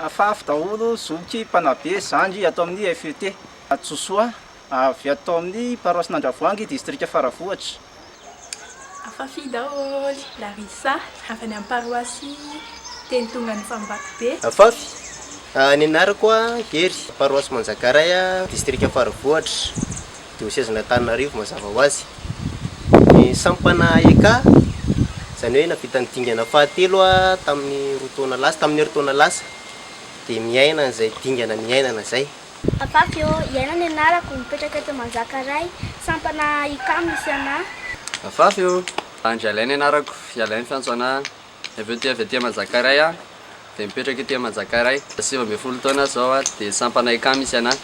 Afafy daholo zoky mpanabe zandry ato amin'ny FET Hadisosoa avy ato amin'ny paroasin'Andravoahangy distrika Faravohitra. Afafy daholo Larissa avy any amin'ny paroasy Tenitongan'ny Fambatobe. Afafy ny anarako Hery paroasy Manjakaray distrika Faravohitra. Diosezin'Antananarivo mazava ho azy. Ny sampana AEK, izany hoe nahavita ny dingana fahatelo tamin'ny roa taona lasa, tamin'ny herintaona lasa, dia miaina an'izay dingana niainana izay. Papafio, Iaina ny anarako, mipetraka eto Manjakaray, sampana AEK misy anà. Papafio, Andry Alain ny anarako, ialahy ny fiantso anà, Dia avy eo dia avy aty Manjakaray aho, dia mipetraka ety Manjakaray. Sivy ambin'ny folo taona aho izao dia sampana ICAM misy anahy.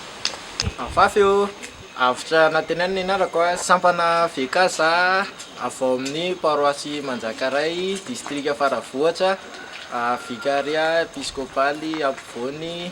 Afafy ô! Avotra Anantenay ny anarako, sampana VK za, avy ao amin'ny paroasy Manjakaray, distrika Faravohitra, vikarià episkopaly ampovoany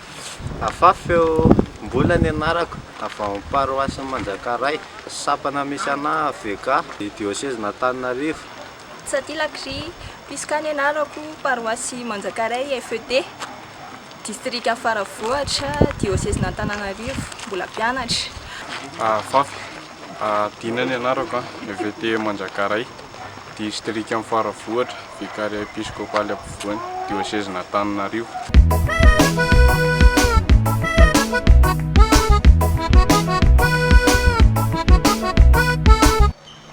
Afafy eo Mbola ny anarako avy ao amin'ny paroasin'i Manjakaray, sampana misy anah avk ny diosezin'Antananarivo. Sati Lakri, Pisca ny anarako, paroasy Manjakaray FED, distrika Faravohitra, diosezin'Antananarivo, mbola mpianatra. Afafy, Dina ny anarako, FED Manjakaray, distrikan'i Faravohitra, Vikaria episkopaly ampovoany diosezin'Antananarivo.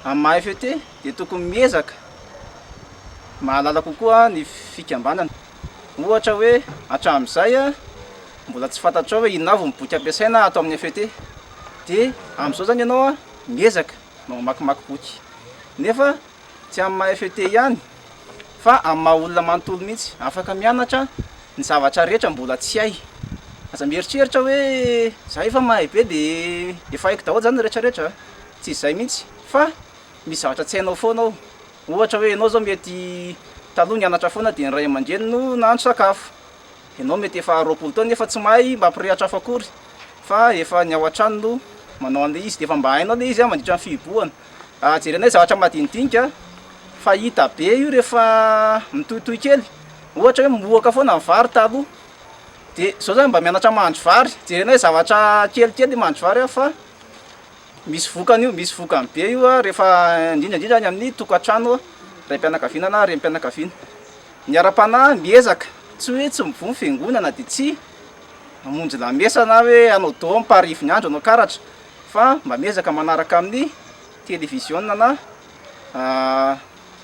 Amin'ny maha FET dia tokony miezaka mahalala kokoa ny fikambanana. Ohatra hoe hatramin'izay mbola tsy fantatrao hoe inona avy ny boky ampiasaina ato amin'ny FET. Dia amin'izao izany ianao miezaka mamakimaky boky. Nefa Tsy amin'ny maha FET ihany fa amin'ny maha olona manontolo mihitsy. Afaka mianatra ny zavatra rehetra mbola tsy hay. Aza mieritreritra hoe za efa mahay be dia efa haiko daholo zany ny rehetra rehetra a! Tsy izay mihitsy fa misy zavatra tsy hainao foana ao. Ohatra hoe ianao zao mety taloha nianatra foana dia ny ray aman-dreny no nahandro sakafo. Ianao mety efa roapolo taona nefa tsy mahay mampirehatra afo akory fa efa ny ao an-trano no manao an'ilay izy dia efa mba hainao ilay izy mandritra ny fihibohana. Jerenay zavatra madinidinika fa hita be io rehefa mitohitohy kely, ohatra hoe mohoka foana ny vary taloha dia izao zany mba mianatra mahandro vary, jerenay zavatra kelikely mahandro vary aho fa misy vokany io, misy vokany be io rehefa indrindra indrindra any amin'ny tokantrano raim-pianakaviana na renim-pianakaviana. Ny ara-panahy miezaka tsy hoe tsy mivoha ny fiangonana dia tsy hamonjy lamesa na hoe hanao dômy parihy ivon'ny andro hanao karatra. fa mba miezaka manaraka amin'ny televiziona na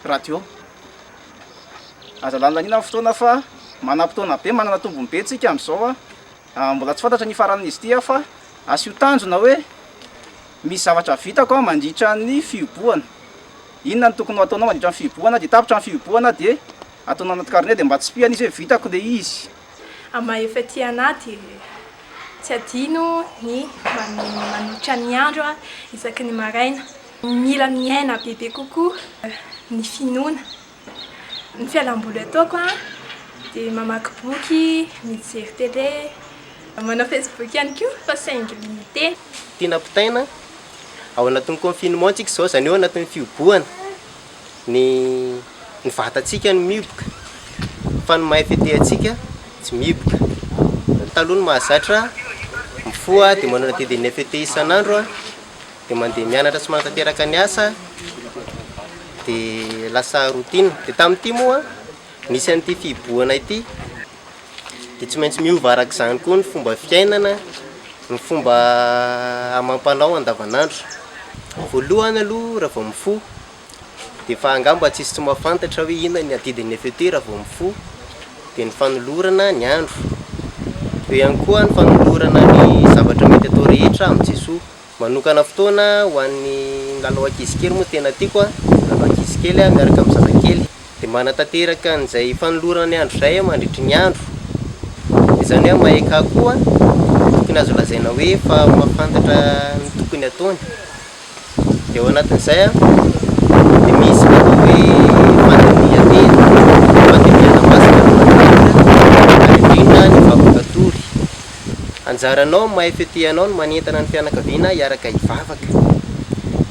radio aza lanilaniana ny fotoana fa manam-potoana be manana tombony be tsika amin'izao a mbola tsy fantatra ny hifaranan'izy ity aho fa asio tanjona hoe misy zavatra vitako aho mandritra ny fihibohana inona ny tokony ho ataonao mandritra ny fihibohana dia tapitra ny fihibohana dia ataonao anaty carnet dia mba tsipihana izy hoe vitako ilay izy Ama efa aty ana dia tsy adino ny manolotra ny andro isaky ny maraina. Mila miaina bebe kokoa ny finoana. Ny fialamboly ataoko dia mamaky boky, mijery tele, manao facebook ihany koa fa saingy limite. Tiana potaina, ao anatin'ny confinement tsika izao, izany hoe ao anatin'ny fihobohana. ny ny vatantsika no mihiboka fa ny mahay fetehantsika tsy mihiboka. Ny taloha no mahazatra, mifoha dia manao dia ny fete isan'andro, dia mandeha mianatra sy manatanteraka ny asa, dia lasa routine. Dia tamin'ity moa, nisy an'ity fihibohana ity. dia tsy maintsy miova araka izany koa ny fomba fiainana, ny fomba amam-panao andavanandro. Voalohany aloha raha vao mifoha dia efa angamba tsy hisy tsy mahafantatra hoe inona ny adidin'ny FET raha vao mifoha, dia ny fanolorana ny andro. Eo ihany koa ny fanolorana ny zavatra mety atao rehetra amin'i Jesoa. Manokana fotoana ho an'ny lalao ankizy kely moa tena tiako an, lalao ankizy kely miaraka amin'ny zazakely. Dia manatanteraka an'izay fanolorana ny andro izay aho mandritry ny andro. Dia izany hoe MAEK koa dia tokony azo lazaina hoe efa mahafantatra ny tokony ataony. Dia ao anatin'izay an, dia misy ny atao hoe fandinihantena, fandinihana masina alohan'ny hira, ary indrindra ny vavaka tory. Anjaranao amin'ny maha-FET anao ny manentana ny fianakaviana hiaraka hivavaka,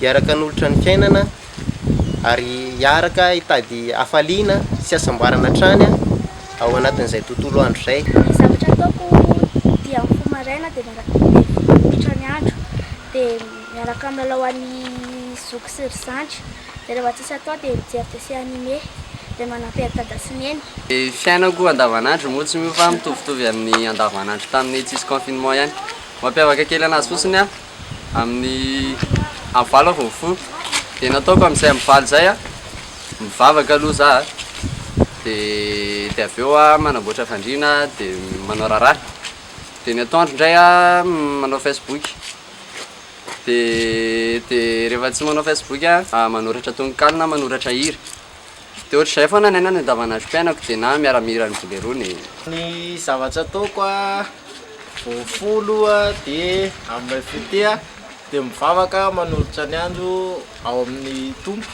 hiaraka hanolotra ny fiainana ary hiaraka hitady hafaliana sy hasambarana hatrany ao anatin'izay tontolo andro izay. Ny zavatra ataoko dia mifoha maraina dia miara-miara-miditra ny andro dia miaraka milalao an'i zoky sy ry zandry. Rehefa tsisy atao dia mijery dessin anime izay manampy an'i dada sy neny. Ny fiainako andavanandro moa tsy miova mitovitovy amin'ny andavanandro tamin'ny tsisy confinement ihany. Mampiavaka kely anazy fotsiny aho amin'ny amin'ny valo aho vao mifoha dia ny ataoko amin'izay amin'ny valo izay a, mivavaka aloha za a, dia dia avy eo aho manamboatra fandriana dia manao raharaha, dia ny atoandro indray aho manao facebook. Dia dia rehefa tsy manao facebook a, manoratra tononkalo na manoratra hira. Dia ohatr'izay foana ny ahy na ny andavanandrom-piainako dia na miara mihira ny bolerone. Ny zavatra ataoko a, vao mifoha aloha dia amin'ilay fotoa dia mivavaka manolotra ny andro ao amin'ny Tompo.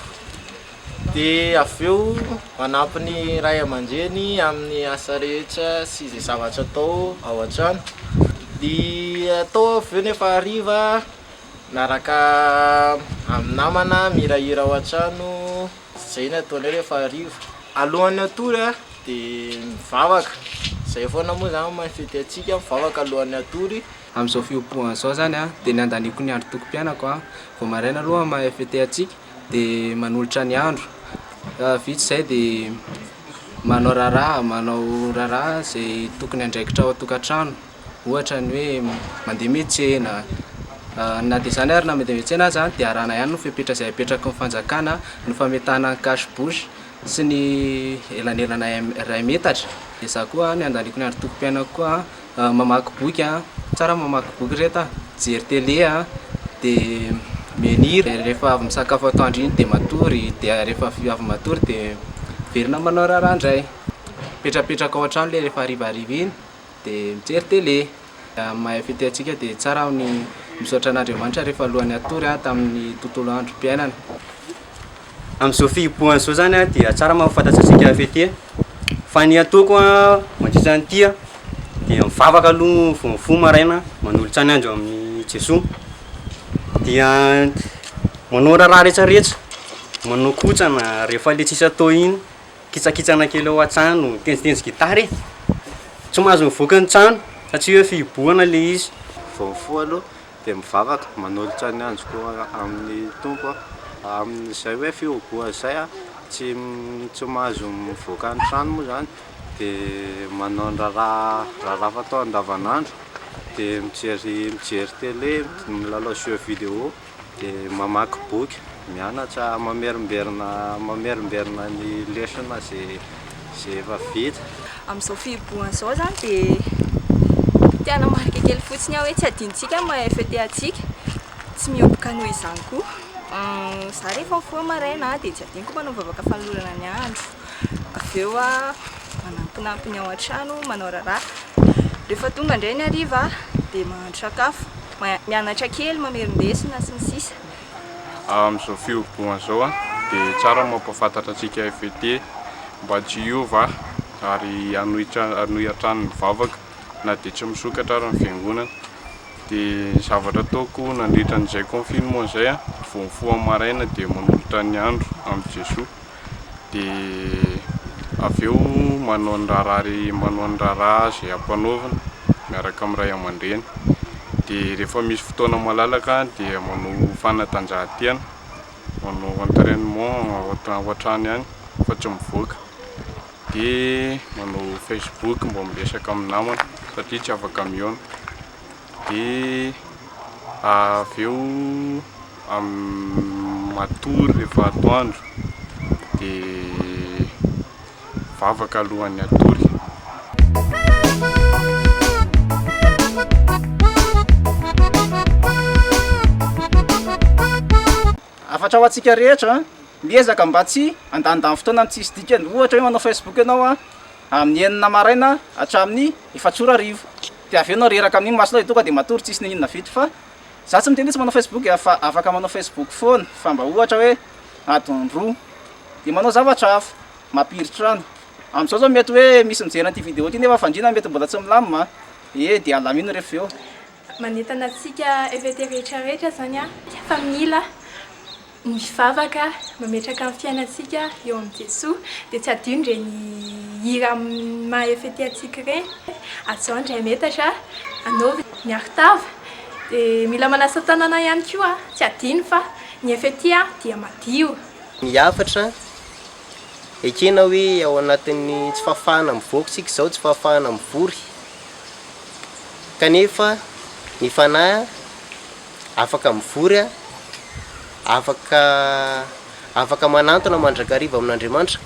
dia avy eo manampy ny ray aman-dreny amin'ny asa rehetra sy izay zavatra atao ao an-trano, dia tao avy eo nefa hariva miaraka amin'ny namana mihirahira ao an-trano, izay no ataonay rehefa hariva, alohan'ny hatory an dia mivavaka, izay foana moa izany no maha fety antsika, mivavaka alohan'ny hatory. Amin'izao fiompiana izao izany an dia nandaniako ny androm-piainako vao maraina aloha maha fety antsika. dia manolotra ny andro, vita izay dia manao raharaha, manao raharaha izay tokony andraikitra ao an-tokantrano, ohatra ny hoe mandeha miantsena, na dia izany ary na mandeha miantsena aza dia arahana ihany ny fepetra izay apetraky ny fanjakana, ny fametahana ny cache bouche sy ny elanelana iray metatra, dia za koa ny handaniako ny androm-piainako koa. Mamaky boky a, tsara ny mamaky boky ry reto a, mijery télé a, dia mihaino hira, dia rehefa avy misakafo atoandro iny dia matory, dia rehefa avy matory dia miverina manao raharaha indray, mipetrapetraka ao an-trano ilay rehefa harivariva iny dia mijery télé. Raha ny maha fety antsika dia tsara ny misaotra an'Andriamanitra rehefa alohan'ny hatory tamin'ny tontolo androm-piainana. Amin'izao fihibohana izao izany dia tsara mahafantatrantsika fety e. Fa ny ataoko mandritra an'ity dia mivavaka aloha vao mifoha maraina, manolotra ny andro amin'i Jesoa. Dia manao raharaha rehetrarehetra, manao kotrana rehefa ilay tsisy atao iny, kitsakitsana kely ao an-trano, mitendritendry gitara e. Tsy mahazo mivoaka ny trano satria hoe fihibohana ilay izy. Vao mifoha aloha. Dia mivavaka, manolotra ny androko amin'ny Tompo aho, amin'izay hoe fihogoana izay aho, tsy tsy mahazo mivoaka ny trano moa izany, dia manao ny raharaha raharaha fatao andavanandro, dia mijery mijery télé, milalao jeux vidéo, dia mamaky boky, mianatra, mamerimberina mamerimberina ny lesona izay izay efa vita. Amin'izao fihibohana izao izany dia te hanamarika kely fotsiny aho hoe tsy adinontsika ny maha FET antsika, tsy mihoboka noho izany koa. Izaho rehefa mifoha maraina dia tsy adinoko manao vavaka fanolorana ny andro, avy eo aho manampinampy ny ao an-trano, manao raharaha, rehefa tonga indray ny hariva dia mahandro sakafo, mianatra kely, mamerin-desona sy ny sisa. amin'izao fihobohana izao dia tsara ny mampahafantatra antsika FET mba tsy hiova ary hanohy hanohy hatrany ny vavaka na dia tsy misokatra ary ny fiangonana. Dia ny zavatra ataoko nandritra an'izay confinement izay dia vao mifoha maraina dia manolotra ny andro amin'i Jesoa. dia avy eo manao ny raharaha manao ny raharaha izay ampanaovina miaraka amin'ny ray aman-dreny dia rehefa misy fotoana malalaka dia manao fanatanjahantena manao entrainement ohatrany ihany fa tsy mivoaka dia manao facebook mba miresaka amin'ny namana satria tsy afaka mihaona dia avy eo Matory rehefa atoandro dia vavaka alohan'ny hatory. Hafatra ho antsika rehetra, miezaka mba tsy handanindany fotoana amin'ny tsisy dikany. Ohatra hoe manao Facebook ianao amin'ny enina maraina hatramin'ny efatsy ora hariva, dia avy eo ianao reraka amin'iny masonao dia tonga dia matory tsisy na inona vita fa Za tsy miteny hoe tsy manao facebook a, fa afaka manao facebook foana fa mba ohatra hoe adiny roa de manao zavatra hafa, mampiritrano. Amzao zao mety hoe misy mijery an'ity vidéo ty nefa fandriana mety mbola tsy milamina e de alamino refa eo. Manentana antsika FVT rehetra rehetra zany a fa mila. Mivavaka, mametraka ny fiainantsika eo amin'i Jesoa, dia tsy adino ireny hira maha-fete antsika ireny. Azao indray metatra, anaovy ny arotava, dia mila manasa tanana ihany koa, tsy adino fa ny fete dia madio. Ny hafatra, ekena hoe ao anatin'ny tsy fahafahana mivoaka isika izao, tsy fahafahana mivory, kanefa ny Fanahy. Afaka mivory aho, afaka, afaka manantona mandrakariva amin'Andriamanitra,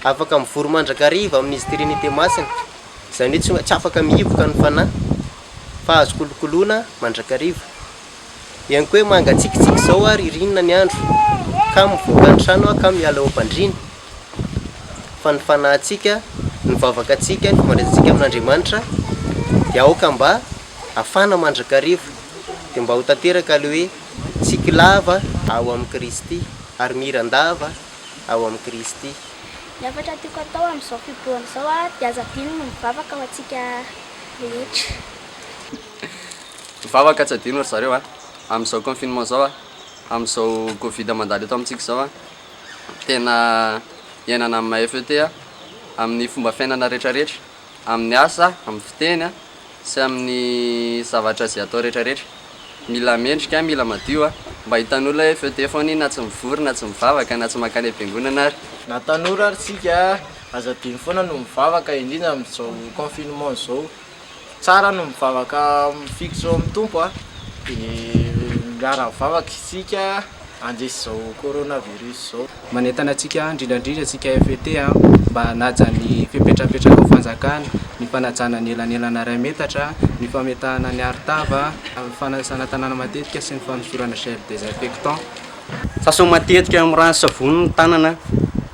afaka mivory mandrakariva amin'Izy Trinite Masina, izany hoe tsy tsy afaka mihiboka ny Fanahy, fa azo kolokoloina mandrakariva. Henoko hoe mangatsiakitsiaka izao aho, ririnina ny andro, ka mivoaka ny trano aho ka miala eo am-pandriana, fa ny fanahintsika, ny vavaka antsika, ny fifandraisantsika amin'Andriamanitra dia aoka mba. afana mandrakariva, dia mba ho tanteraka ilay hoe, Tsiky lava ao amin'i Kristy, ary miran-dava ao amin'i Kristy. Ny hafatra tiako hatao amin'izao fiboahana izao dia aza adino ny mivavaka ho antsika rehetra. Mivavaka tsy adino ry zareo a! Amin'izao confinement izao a! Amin'izao covid mandalo eto amintsika izao a! Tena iainana amin'ny mahefa eo ity a! Amin'ny fomba fiainana rehetrarehetra Amin'ny asa, amin'ny fiteny a, sy amin'ny zavatra izay atao rehetra rehetra. Mila mendrika a, mila madio a. Mba hitan'olona hoe feu tefa honie na tsy mivory na tsy mivavaka na tsy mankany am-piangonana ary. Na tanora ary tsika a, aza adino foana no mivavaka indrindra amin'izao confinement izao. Tsara no mivavaka mifikitra eo amin'ny Tompo a, dia miara-mivavaka isika handresy izao coronavirus izao. Manentana antsika indrindra indrindra antsika FET mba hanaja ny fepetrapetrakao fanjakana, ny fanajana ny elanelana iray metatra, ny fametahana ny arotava, ny fanasana tanana matetika sy ny fanosorana gel désinfectant. Sasao matetika amin'ny rano sy savony ny tanana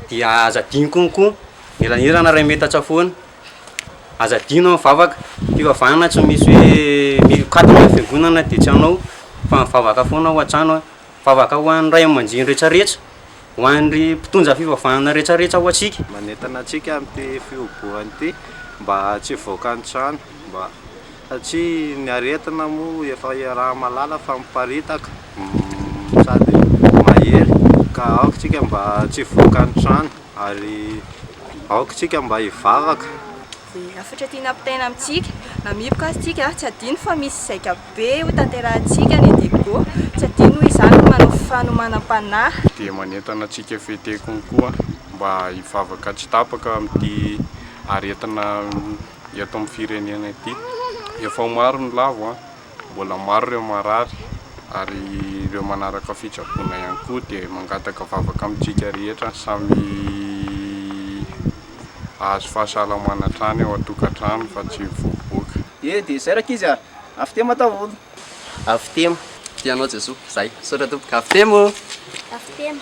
dia aza adino konkoa ny elanelana iray metatra tsy afoana, aza adino ny mivavaka, fivavahana tsy misy hoe mikatona ny fiangonana dia tsy hanao fa mivavaka foana ao an-trano. Vavaka ho an'ny Ray aman-dreny rehetrarehetra, ho an'ry mpitondra fivavahana rehetrarehetra ho antsika. Manentana antsika amin'ity fihobohany ity mba tsy hivoaka any trano mba satria ny aretina moa efa iaraha-malala fa miparitaka sady mahery ka aoka isika mba tsy hivoaka any trano ary aoka isika mba hivavaka Dia hafatra tiana ampitaina amintsika, hamiriko azy tsika, tsy adino fa misy zaika be ho tanterahantsika any Adego, tsy adino hoy izany ny manao fanomanam-panahy. Dia manentana antsika fete konkoa mba hivavaka tsy tapaka amin'ity aretina eto amin'ny firenena ity. Efa ho maro ny lavo an! Mbola maro ireo marary ary ireo manaraka fitsaboana ihany koa dia mangataka vavaka amintsika rehetra samy hahazo fahasalamana hatrany ao an-tokantrano fa tsy mivoaboaka. Dia dia izay rankizy a! Avy temo daholo. Avy temo. Tia anao Jesoa. Zay. Misaotra tompoko. Avy temo. Avy temo.